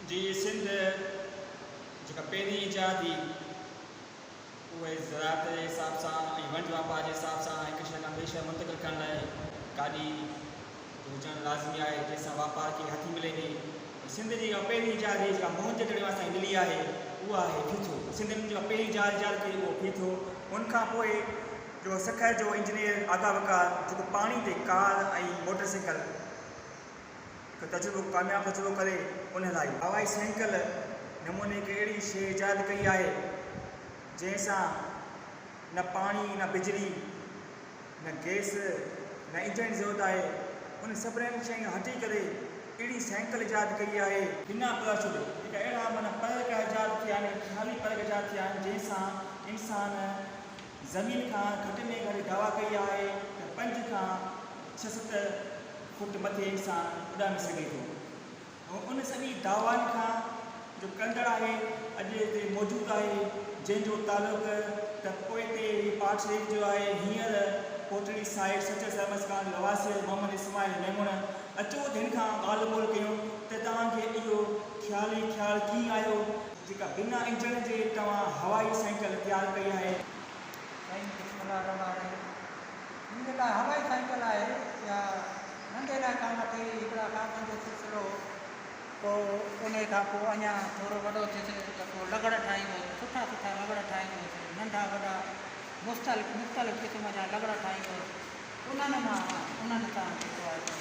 جي سنڌ جيڪا پهرين ايجاد هئي اهي زراعت جي حساب سان ۽ ونڊ واپار جي حساب سان هڪ شهر کان ٻئي شهر منتقل ڪرڻ لاء گاڏي هجڻ لازمي آهي جنهن سان واپار کي هٿ ملي ٿي سنڌ جي جيڪا پهرين ايجاد هئي جيڪا موهن جو دڙو اسان کي ملي آهي اها آهي ڦيٿو سنڌين جيڪا پهرين جال ايجاد ڪئي اهو ڦيٿو ان کان پوء جو سکر جو انجنيئر آغا وقار جيڪو پاڻي تي ڪار ۽ موٽر سائيڪل ته تجربو ڪامياب تجربو ڪري ان لاء ئي هوائي سينڪل نموني هڪ اهڙي شيء ايجاد ڪئي آهي جنهن سان نه پاڻي نه بجلي نه گئس نه انجڻ جي ضرورت آهي انهن سڀني شين هٽي ڪري اهڙي سينڪل ايجاد ڪئي آهي. بنا پراشوٽ جيڪا اهڙا معنيٰ پرڳ ايجاد ٿيا آهن خيالي پرڳ ايجاد ٿيا آهن جنهن سان انسان زمين کان گهٽ ۾ گهٽ دعويٰ ڪئي آهي ته پنج کان ڇهه ست فوٽ مٿي انسان اڏامي سگهي ٿو ۽ ان سڄي دعوائن کان جو ڪندڙ آهي اڄ اتي موجود آهي جنهن جو تعلق ته پوئتي پاٽ شريف جو آهي هينئر ڪوٽڙي سائيٽ سچل سرمست ڪالوني رهواسي محمد اسماعيل ميمڻ اچو ته هن کان ڳالهه ٻولهه ڪيون ته توهان کي اهو خيال ئي خيال ڪيئن آيو جيڪا بنا انجڻ جي توهان هوائي سائيڪل تيار ڪئي آهي. سائين بسم الله الرحمٰن الرحيم هي جيڪا هوائي سائيڪل آهي اها ننڍي لاء ڪم اچي هئي هڪڙا ڪامن جو سلسلو هو پوء انهي کان پوء اڃا ٿورو وڏو ٿيس ته پوء لغڙ ٺاهيندو هوس سٺا سٺا لغڙ ٺاهيندو هوس ننڍا وڏا مختلف مختلف قسم جا لغڙ ٺاهيندو هوس انهن مان انهن سان جيڪو آهي سو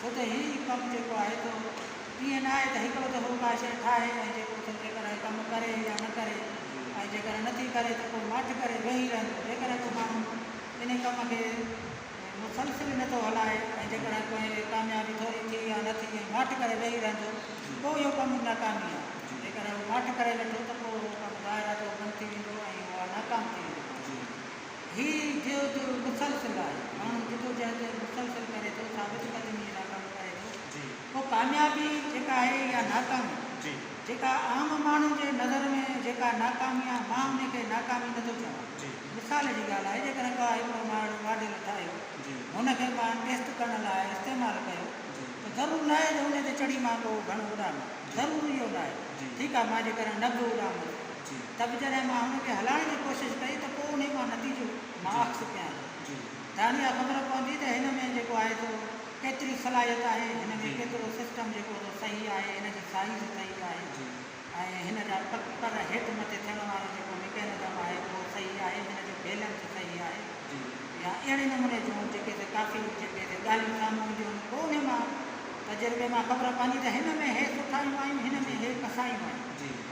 ڇو ته هي ڪم جيڪو آهي سو ائين نه آهي ته هڪڙو دفعو ڪا شيء ٺاهي ۽ جيڪو ٿو جيڪڏهن هي ڪم ڪري يا نه ڪري ۽ جيڪڏهن نٿي ڪري ته پوء ماٺ ڪري ويهي رهندو جيڪڏهن ڪو ماڻهو انهي ڪم کي مسلسل نه ٿو هلائي ۽ جيڪڏهن ڪنهن کي ڪاميابي ٿوري ٿي يا نه ٿي ۽ ماٺ ڪري ويهي رهندو پوء اهو ڪم ناڪامي آهي جيڪڏهن هو ماٺ ڪري ويٺو ته پوء اهو ڪم ظاهر آهي ته اهو بند ٿي ويندو ۽ اها ناڪام ٿي ويندي. هي جيو جو مسلسل آهي. ماڻهو جدوجهد مسلسل ڪري ٿو، ثابت قدمي جا ڪم ڪري ٿو. پوء ڪاميابي جيڪا آهي يا ناڪامي، جيڪا عام ماڻهن جي نظر ۾ جيڪا ناڪامي آهي، مان ان کي ناڪامي نٿو چوان. مثال جي ڳالهه آهي، جيڪڏهن ڪا هڪڙو ماڻهو ماڊل ٺاهيو، هن کي مان ٽيسٽ ڪرڻ لاء استعمال ڪيو، ته ضرور ناهي جو ان تي چڙهي مان ڪو گهڻو اڏامي. ضرور اهو ناهي. ٺيڪ آهي، مان جيڪڏهن نه به اڏاميس. ته به جڏهن مان هن کي هلائڻ جي ڪوشش ڪئي ته پوء انهي مان نتيجو مان اخذ ڪيان ٿا ته اها خبر پوندي ته هن ۾ جيڪو آهي سو ڪيتري صلاحيت آهي هن ۾ ڪيترو سسٽم جيڪو سو صحيح آهي هن جي سائيز صحيح آهي ۽ هن جا پڪر هيٺ مٿي ٿيڻ وارو جيڪو مڪينزم آهي اهو صحيح آهي هن جو بيلنس صحيح آهي يا اهڙي نموني جون جيڪي سي ڪافي جيڪي سي ڳالهيون سامهون اينديون آهن پوء انهي مان تجربي مان خبر پوندي ته هن ۾ هي سٺايون آهيون هن ۾ هي ڪسايون آهيون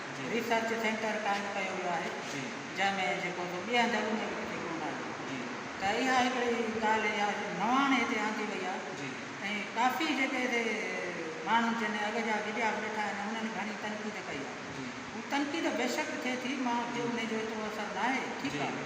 ريسرچ سينٽر قائم ڪيو ويو آهي جنهن ۾ جيڪو به ٻين هنڌن ۾ به ڪٿي ڪونه آهي ته اها هڪڙي ڳالهه اها نواڻ هتي آندي وئي آهي ۽ ڪافي جيڪي هتي ماڻهو جن اڳ جا ويڄاس ويٺا آهن انهن گهڻي تنقيد ڪئي آهي تنقيد بيشڪ ٿئي ٿي مان چيو ان جو ايترو اثر ناهي ٺيڪ آهي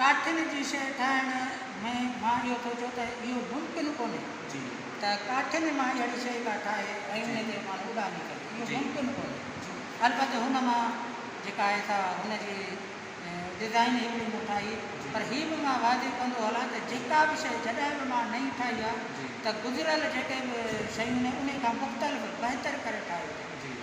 ڪاٺين جي شيء ٺاهڻ ۾ مان اهو سوچيو ته اهو ممڪن ڪونهي ته ڪاٺين مان اهڙي شيء ڪا ٺاهي ۽ ان تي ماڻهو اڏامي ڪري، اهو ممڪن ڪونهي. البت هن مان جيڪا آهي سا هن جي ڊزائين هڪڙي مون ٺاهي پر هي به مان واضح ڪندو هلان ته جيڪا به شيء جڏهن به مان نئين ٺاهي آهي ته گذريل جيڪي به شيون آهن انهي کان مختلف بهتر ڪري ٺاهي آهي.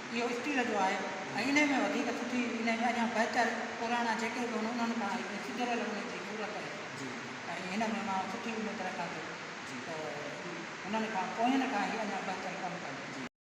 اهو اسٽيل جو آهي ۽ انهي ۾ وڌيڪ سٺي انهي ۾ اڃان بهتر پراڻا جيڪي به هوندا انهن کان هڪ سڌريل انهي جي صورت آهي ۽ هن ۾ مان سٺي اميد رکان ٿو ته انهن کان پوئين کان هي اڃان بهتر ڪم ڪن.